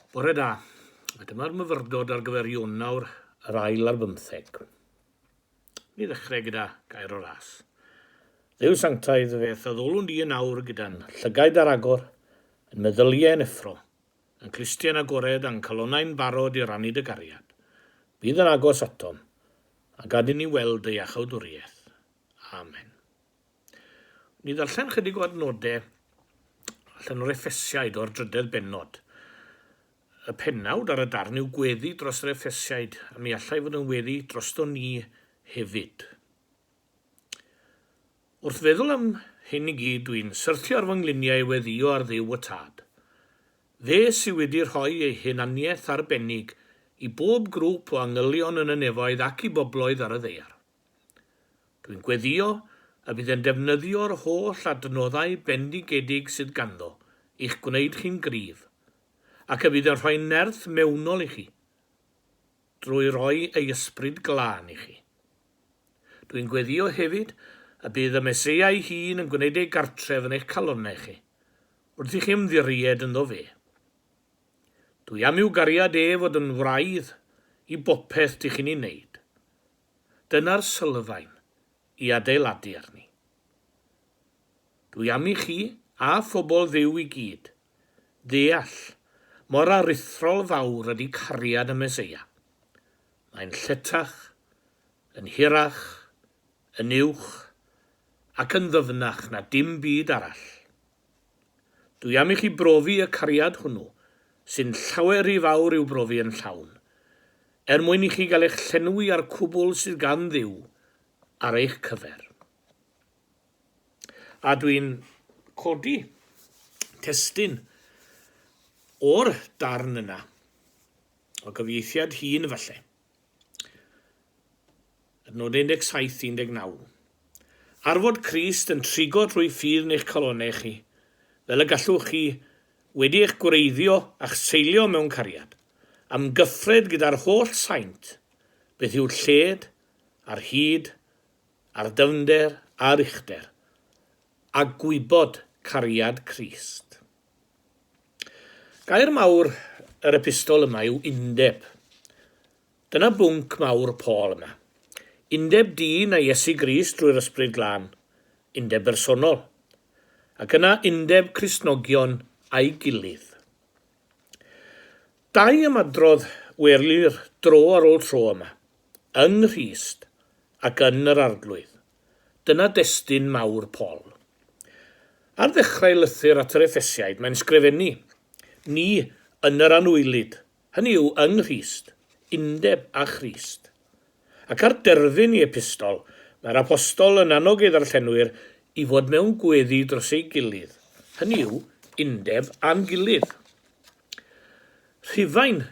Bore da, a dyma'r myfyrdod ar gyfer Ionawr yr ail ar bymtheg. Ni ddechrau gyda gair o ras. Dduw sanctaidd feth a ddolwn di yn awr gyda'n llygaid ar agor, yn meddyliau yn effro, yn clustiau'n agored a'n calonnau'n barod i rannu dy gariad. Bydd yn agos atom, a gad i ni weld dy iachawdwriaeth. Amen. Ni ddarllen chydig o adnodau allan o'r Effesiaid o'r drydedd bennod. Y pennawd ar y darn yw gweddi dros yr Effesiaid, a mi allai fod yn weddi drosto ni hefyd. Wrth feddwl am hyn i gyd, dwi'n syrthio ar fy ngliniau i weddio ar dduw y tad. Fe sydd wedi rhoi ei hunaniaeth arbennig i bob grŵp o angylion yn y nefoedd ac i bobloedd ar y ddeiar. Dwi'n gweddïo y bydd e'n defnyddio'r holl adnoddau bendigedig sydd ganddo i'ch gwneud chi'n gryf, ac y bydd yn rhoi nerth mewnol i chi, drwy roi ei ysbryd glân i chi. Dwi'n gweddïo hefyd y bydd y Meseia ei hun yn gwneud ei gartref yn eich calonnau chi, wrth i chi ymddiried ynddo fe. Dwi am i'w gariad e fod yn wraidd i bopeth dych chi'n ei wneud, Dyna'r sylfaen i adeiladu arni. Dwi am i chi, a phobl Dduw i gyd, ddeall mor aruthrol fawr ydi cariad y Meseia. Mae'n lletach, yn hirach, yn uwch, ac yn ddyfnach na dim byd arall. Dwi am i chi brofi y cariad hwnnw, sy'n llawer rhy fawr i'w brofi yn llawn, er mwyn i chi gael eich llenwi â'r cwbl sydd gan Dduw ar eich cyfer. A dwi'n codi testun o'r darn yna, o gyfieithiad hŷn falle. Adnodau 17, 19. Ar fod Crist yn trigo trwy ffydd eich calonnau chi, fel y gallwch chi, wedi eich gwreiddio a'ch seilio mewn cariad, amgyffred gyda'r holl saint, beth yw'r lled, a'r hyd, a'r dyfnder, a'r uchder, a gwybod cariad Crist. Gair mawr yr epistol yma yw undeb. Dyna bwnc mawr Paul yma. Undeb dyn a Iesu Grist drwy'r Ysbryd Glân, undeb bersonol, ac yna undeb Cristnogion â'i gilydd. Dau ymadrodd welir dro ar ôl tro yma, yng Nghrist ac yn yr Arglwydd. Dyna destun mawr Paul. Ar ddechrau lythyr at yr Effesiaid mae'n sgrifennu, Ni yn yr anwylyd, hynny yw yng Nghrist, undeb â Christ. Ac ar derfyn i epistol, mae'r Apostol yn annog ei ddarllenwyr i fod mewn gweddi dros ei gilydd, hynny yw undeb â'n gilydd. Rhufain,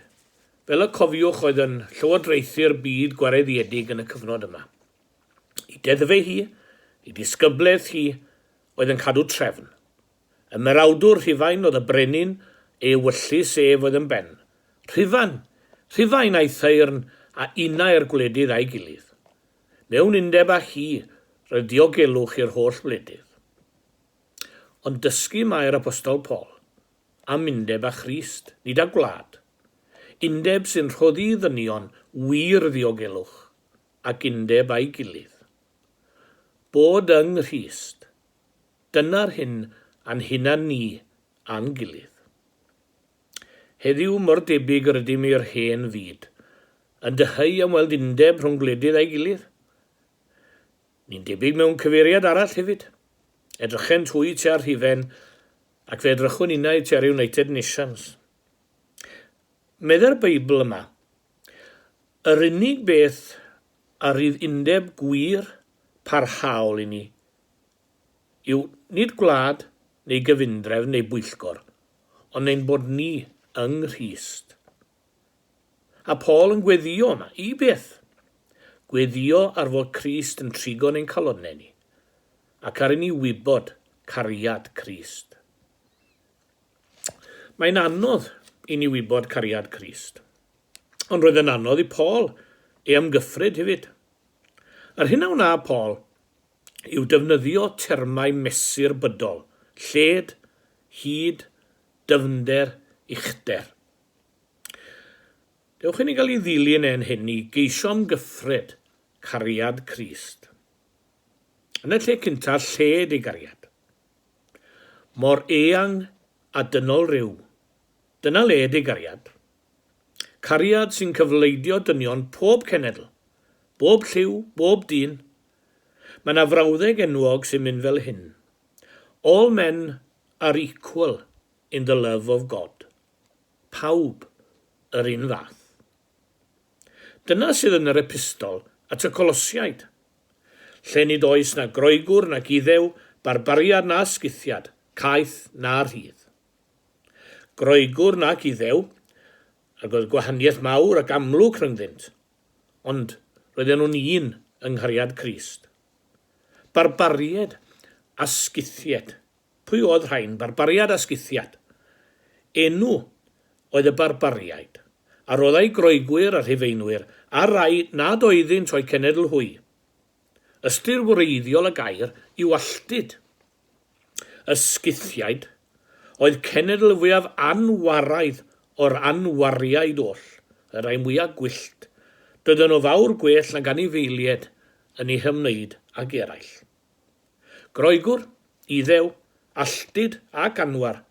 fel y cofiwch, oedd yn llywodraethu'r byd gwareiddiedig yn y cyfnod yma. Ei deddfau hi, ei disgyblaeth hi, oedd yn cadw trefn. Ymerawdwr Rhufain oedd y brenin ei ewyllys ef oedd yn ben. Rhufan! Rhufain! a'i thaearn a unai'r gwledydd â'i gilydd. Mewn undeb â hi, roedd diogelwch i'r holl wledydd. Ond dysgu mae'r Apostol Paul am undeb â Christ, nid â gwlad. Undeb sy'n rhoddi i ddynion wir ddiogelwch, ac undeb â'i gilydd. Bod yng Nghrist, dyna'r hyn a'n hunan ni a'n gilydd. Heddiw mor debyg yr ydym i'r hen fyd, yn dyheu am weld undeb rhwng gwledydd a'i gilydd. Ni'n debyg mewn cyfeiriad arall hefyd. Edrychent hwy tua'r rhifen, ac fe edrychwn innau tua'r United Nations. Meddai'r Beibl yma, Yr unig beth a rydd undeb gwir parhaol i ni yw nid gwlad neu gyfundrefn neu bwyllgor, ond ein bod ni yng Nghrist. A Paul yn gweddio yma, i beth? Gweddio ar fod Crist yn trigo'n ein calonnau ni, ac ar i ni wybod cariad Crist. Mae'n anodd i ni wybod cariad Crist. Ond roedd yn anodd i Paul ei amgyffryd hefyd. Yr hyn a wna Paul yw defnyddio termau mesur bydol, lled, hyd, dyfnder, uchder. Dewch i ni gael ei ddilyn e'n hyn i geisio amgyffred cariad Crist. Yn y lle cyntaf, lled ei gariad. Mor eang a dynol ryw. Dyna led ei gariad. Cariad sy'n cyfleidio dynion pob cenedl, bob lliw, bob dyn. Mae 'na frawddeg enwog sy'n mynd fel hyn, All men are equal in the love of God. Pawb yr un fath. Dyna sydd yn yr Epistol at y Colosiaid, lle nid oes na Groegwr nac Iddew, barbariad na Scythiad, caeth na rhydd. Groegwr nac Iddew, ac oedd gwahaniaeth mawr ac amlwg rhyngddynt, ond roedden nhw'n un yng nghariad Crist. Barbaried a Scythied. Pwy oedd rhain? Barbariad a Scythiad. Enw oedd y Barbariaid, a roedd a'u Groegwyr a Rhufeinwyr, a'r rhai nad oeddynt o'u cenedl hwy. Ystyr wreiddiol y gair yw alltud. Y Scythiaid oedd cenedl fwyaf anwaraidd o'r anwariaid oll, y rhai mwyaf gwyllt. Doedden nhw fawr gwell nag anifeilied yn eu hymwneud ag eraill. Groegwr, Iddew, alltud ac anwar,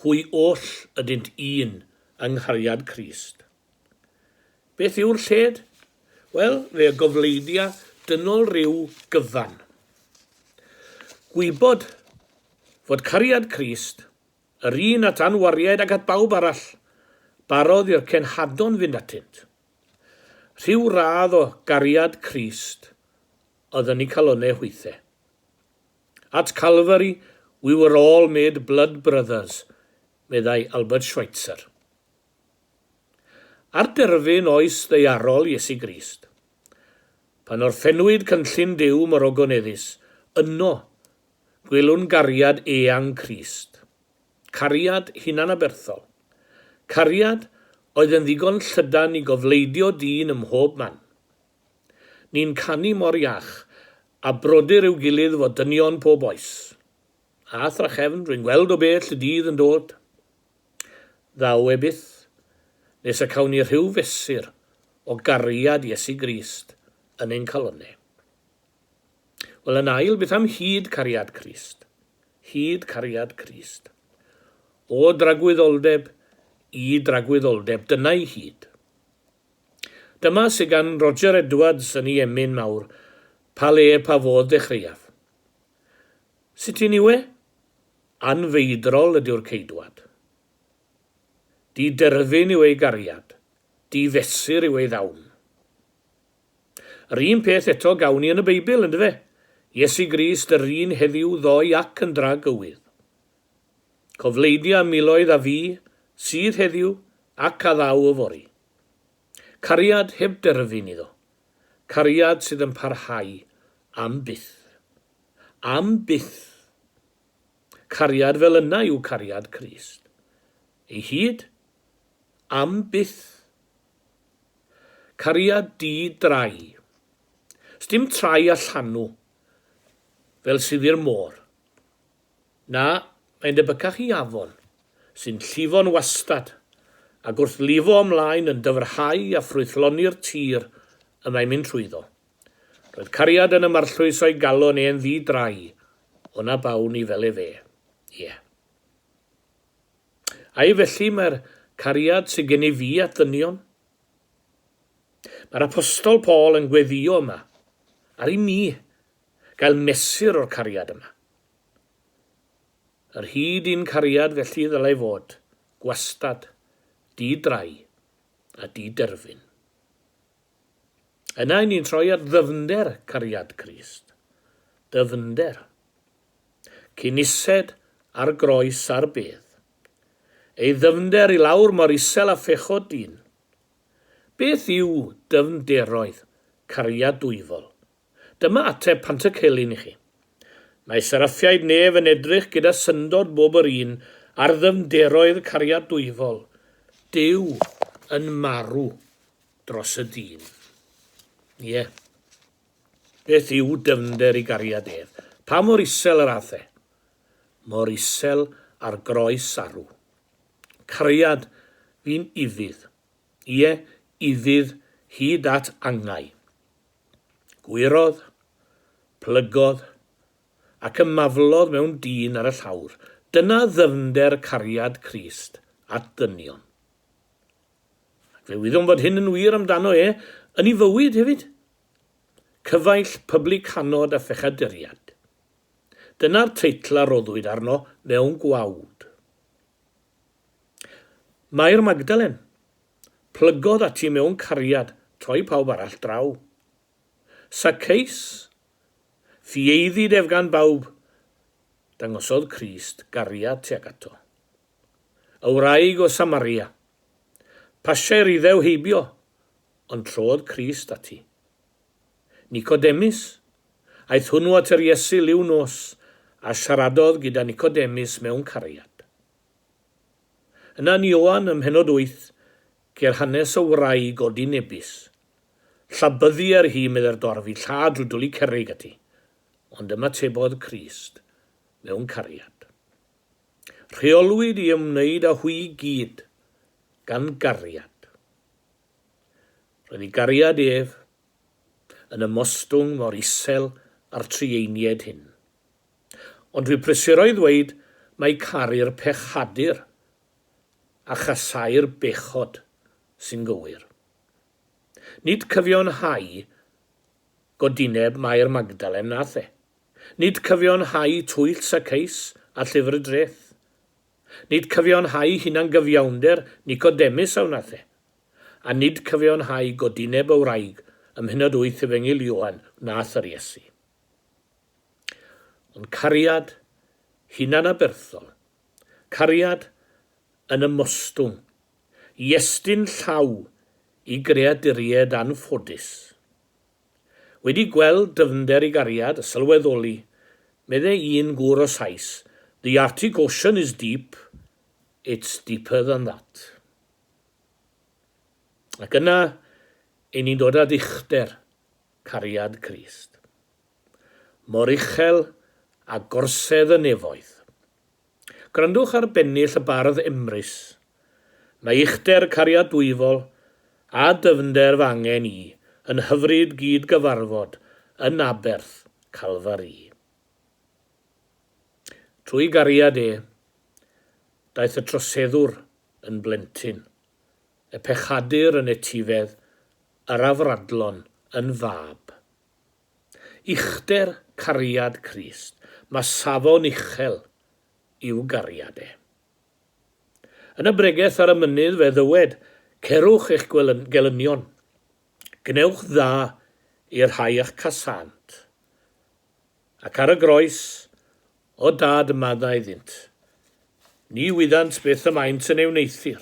hwy oll ydynt un yng nghariad Crist. Beth yw'r lled? Wel, fe y gofleidia dynol ryw gyfan. Gwybod fod cariad Crist, yr un at anwariaid ac at bawb arall, barodd i'r cenhadon fynd atynt. Rhyw radd o gariad Crist oedd yn ei calonne hwythe. At Calvary we were all made blood brothers, meddai Albert Schweitzer. Ar derfyn oes ddeiarol Iesu Grist. Pan orffennwyd cynllun Duw mor ogoneddus, yno, gwelwn gariad eang Crist. Cariad hunanaberthol. Cariad oedd yn ddigon llydan i gofleidio dyn ym mhob man. Ni'n canu mor iach, a brodyr i'w gilydd fo dynion pob oes. A thrachefn, rwy'n gweld o bell y dydd yn dod. Ddaw e byth, nes y cawn ni rhyw fesur o gariad Iesu Grist yn ein calonne. Wel, yn ail, beth am hud cariad Crist? Hud cariad Crist. O dragwyddoldeb i dragwyddoldeb, dyna'i hud. Dyma sy gan Roger Edwards yn i emyn mawr, pa le pa fodd ddechreuaf. Sut un yw e? Anfeidrol ydyw'r ceidwad. Di-derfyn yw ei gariad, di-fesur yw ei ddawn. Yr un peth eto gawn ni yn y Beibl, yndyfe? Iesu Grist yr un heddiw ddoe ac yn dra gywydd. Cofleidia miloedd a fu, sydd heddiw, ac a ddaw yfory. Cariad heb derfyn iddo. Cariad sydd yn parhau am byth. Am byth! Cariad fel yna yw cariad Crist. Ei hyd? Am byth! Cariad di-drai. Sdim trai a llanw, fel sydd i'r môr. Na, mae'n debycach i afon, sy'n llifo'n wastad, ac wrth lifo ymlaen yn dyfrhau a ffrwythloni'r tir y mae'n mynd trwyddo. Roedd cariad yn ymarllwys o'i galon e'n ddi drai, o na bawn i fel efe. Ie. Ai felly mae'r cariad sydd gen i fi at ddynion? Mae'r apostol Paul yn gweddio yma, ar i mi, Gael mesur o'r cariad yma. Yr hyd i'n cariad felly ddylai fod, gwastad, di-drai a di-derfyn. Yna 'yn ni'n troi at ddyfnder cariad Crist. Dyfnder. Cyn ised ar groes ar bedd. Ei ddyfnder i lawr mor isel a phechod dyn. Beth yw dyfnderoedd cariad dwyfol Dyma ateb Pantycelyn i chi. Mae seraffiaid nef yn edrych gyda syndod bob yr un ar ddyfnderoedd cariadwyfol. Duw yn marw dros y dyn. Ie. Beth yw dyfnder i gariad ef? Pa mor isel yr ath e? Mor isel â'r groes arw. Cariad fi'n ufudd. Ie, iddyf, hyd at angau. Gwyrodd, plygodd, ac ymaflodd mewn dyn ar y llawr. Dyna ddyfnder cariad Crist at ddynion. Ac fe wyddom fod hyn yn wir amdano e yn ei fywyd hefyd. Cyfaill pyblycanod a phechaduriad. Dyna'r teitl a roddwyd arno mewn gwawd. Mair Magdalen, plygodd ati mewn cariad troi pawb arall draw. Saceus, ffieiddid ef gan bawb, dangosodd Crist gariad tuag ato. Y wraig o Samaria, pasiai'r Iddew heibio, ond trodd Crist ati. Nicodemus, aeth hwnnw at yr Iesu liw nos, a siaradodd gyda Nicodemus mewn cariad. Yna yn Ioan ym mhennod wyth ceir hanes o wraig o dŷ Nebis. Llabyddu ar hi, meddai'r dorf, i lla drwy dwli cerrig ati. Ond ymatebodd Crist mewn cariad. Rheolwyd i ymwneud â hwy i gyd gan gariad. Roedd ei gariad ef yn ymostwng mor isel â'r Trieinied hyn. Ond dwi prysuro i ddweud mai caru'r pechadur a chasau'r bechod sy'n gywir. Nid cyfiawnhau godineb Mair Magdalen nath e. Nid cyfiawnhau twyll Saceus a llyfr y dreth. Nid cyfiawnhau hunangyfiawnder Nicodemus a wnath e. A nid cyfiawnhau godineb y wraig ym mhennod wyth Efengyl Ioan wnath yr Iesu. Ond cariad hunanaberthol, cariad yn ymostwng i estyn llaw i greaduried anffodus. Wedi gweld dyfnder i gariad a sylweddoli, medde un gŵr o Sais, The Arctic Ocean is deep, it's deeper than that. Ac yna, 'yn ni'n dod â dichder Cariad Crist. Mor uchel a gorsedd y nefoedd. Gwrandwch ar bennill y bardd Emrys. Mae uchder cariad dwyfol a dyfnder fy angen i yn hyfryd gyd gyfarfod yn aberth Calfari. Trwy gariad e, daeth y troseddwr yn blentyn. Y pechadur yn etifedd, yr afradlon yn fab. Uchder cariad Crist, ma safon uchel i'w gariad e. Yn y bregeth ar y mynydd fe ddywed, Cerwch eich gelynion, gwnewch dda i'r rhai a'ch casant. Ac ar y groes, o dad y madda iddynt, ni wyddant beth y maent yn ei wneuthur.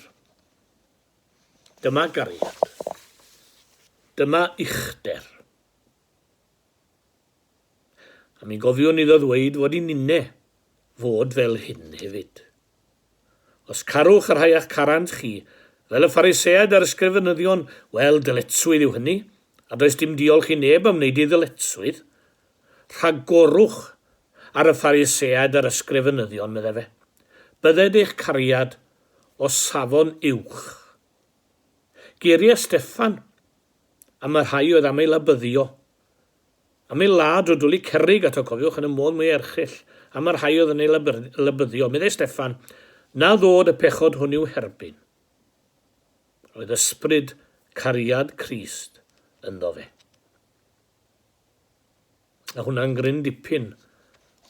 Dyma gariad. Dyma uchder. A mi gofiwn iddo ddweud fod i ninne fod fel hyn hefyd. Os carwch y rhai a'ch carant chi, fel y Phariseaid a'r Ysgrifenyddion, wel, dyletswydd yw hynny, a does dim diolch i neb am wneud ei ddyletswydd. Rhagorwch ar y Phariseaid a'r Ysgrifenyddion, meddai fe. Bydded eich cariad o safon uwch. Geiriau Steffan am y rhai oedd am ei labyddio, Am ei ladd, o dwli cerrig ato, cofiwch, yn y modd mwyaf erchyll, am y rhai oedd yn ei lybyddio. Meddai Steffan, Na ddod y pechod hwn i'w herbyn. Roedd ysbryd cariad Crist ynddo fe. A hwnna'n gryn dipyn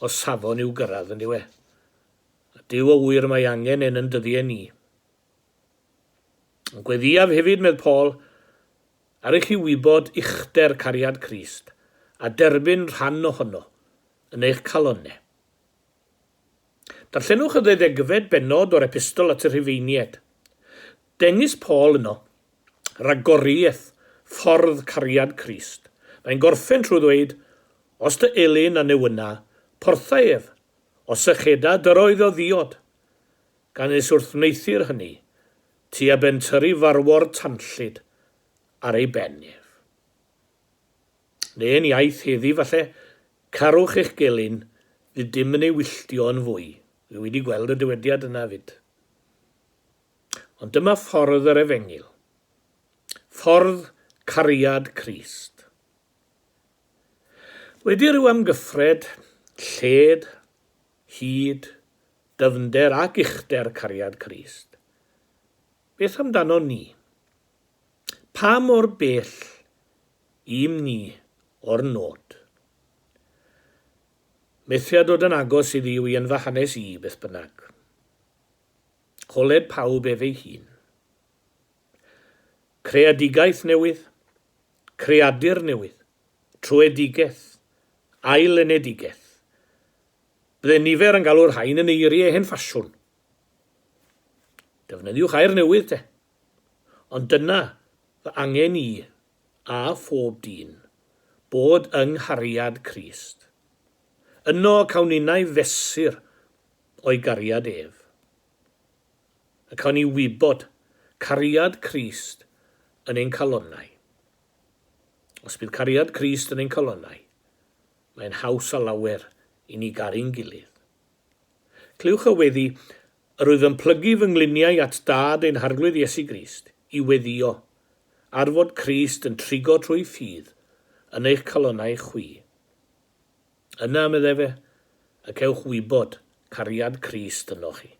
o safon i'w gyrraedd yn diwe. A Dyw o wir mae angen yn yn dyddiau ni. Yn gweddiaf hefyd, medd Paul, Ar i chi wybod uchder cariad Crist, a derbyn rhan ohono yn eich calonne. Darllenwch y ddeuddegfed bennod o'r Epistol at y Rhufeinied. Dengys Paul yno ragoriaeth ffordd cariad Crist. Mae'n gorffen trwy ddweud, Os dy elyn a newyna, portha ef, os y cheda dy roedd o ddiod. Gan nes wrth wneuthur hynny, Tua ben tyri farwor tanllyd ar ei ben ef. Neu'n iaith heddi falle, carwch eich gelyn, fydd dim yn ei wylltio yn fwy. Wi wedi gweld y dywediad yna 'fyd. Ond dyma ffordd yr efengyl. Ffordd cariad Crist. Wedi rhyw amgyffred, lled, hyd, dyfnder ac uchder cariad Crist. Beth amdanon ni? Pa mor bell ym ni o'r nod? Methia dod yn agos i Dduw i yn fy hanes i, beth bynnag. Colled pawb ef ei hun. Creadigaeth newydd, creadur newydd, truedigaeth, ail-lenedigaeth. Byddai nifer yn galw'r rhain yn eiriau hen ffasiwn. Defnyddiwch air newydd, te. Ond dyna fy angen i, a phob dyn, bod yng nghariad Crist. Yno cawn ninnau fesur o'i gariad ef. Y cawn ni wybod cariad Crist yn ein calonnau. Os bydd cariad Crist yn ein calonnau, mae'n haws â lawer i ni garu'n gilydd. Clywch y weddi, Yr wyf yn plygu fy ngliniau at Dad ein Harglwydd Iesu Grist, i weddïo, ar fod Crist yn trigo trwy ffydd yn eich calonnau chwi. Yna, medd efe, y cewch wybod cariad Crist ynoch chi.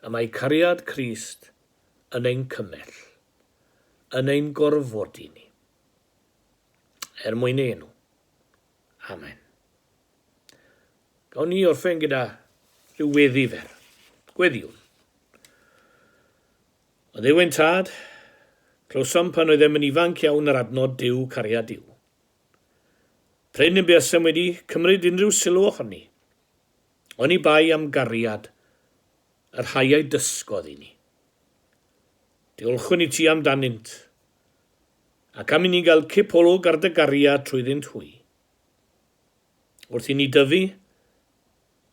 Y mae cariad Crist yn ein cymell. yn ein gorfodi ni, er mwyn ei enw. Amen. Gawn ni orffen gyda rhyw weddi fer. Gweddiwn. O Dduw ein tad, clywsom pan oeddem yn ifanc iawn yr adnod Dyw cariad Dyw. Pryn yn buasem wedi cymryd unrhyw sylw ohoni, oni bai am gariad yr rhai a'i dysgodd i ni. Diolchwn i ti amdanynt, ac am i ni gael cip olwg ar dy gariad trwyddynt hwy. Wrth i ni dyfu,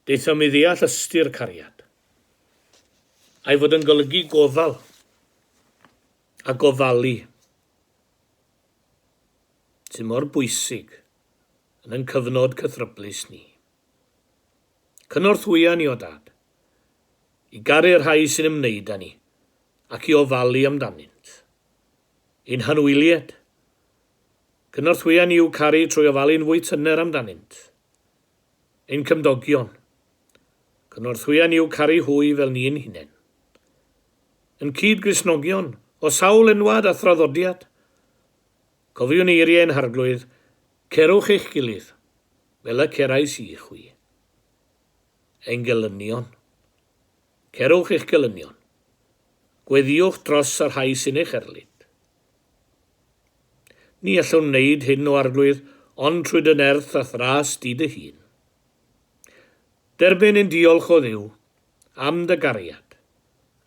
daethom mi ddeall ystyr cariad, a'i fod yn golygu gofal a gofalu, sy'n mor bwysig yn yn cyfnod cythryblus ni. Cynorthwya ni o Dad, i garu y rhai sy'n ymwneud â ni, ac i ofalu amdanynt. Ein hanwylied. Cynorthwya ni i'w caru trwy ofalu'n fwy tyner amdanynt. Ein cymdogion. Cynorthwya ni i'w caru hwy fel ni ein hunain. Yn cyd-Gristnogion, o sawl enwad a thraddodiad, Cofiwn eirie ein harglwydd, Cerwch eich gilydd, fel y cerais i chwi. Ein gelynion. Cerwch eich gelynion. Gweddïwch dros y rhai sy'n eich erlid. Ni allwn wneud hyn o arglwydd, ond trwy dy nerth a thras di dy hun. Derbyn ein diolch o Dduw am dy gariad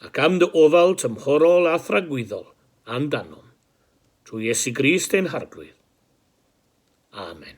ac am dy ofal tymhorol a thragwyddol amdanom. Trwy Iesu Grist ein Harglwydd. Amen.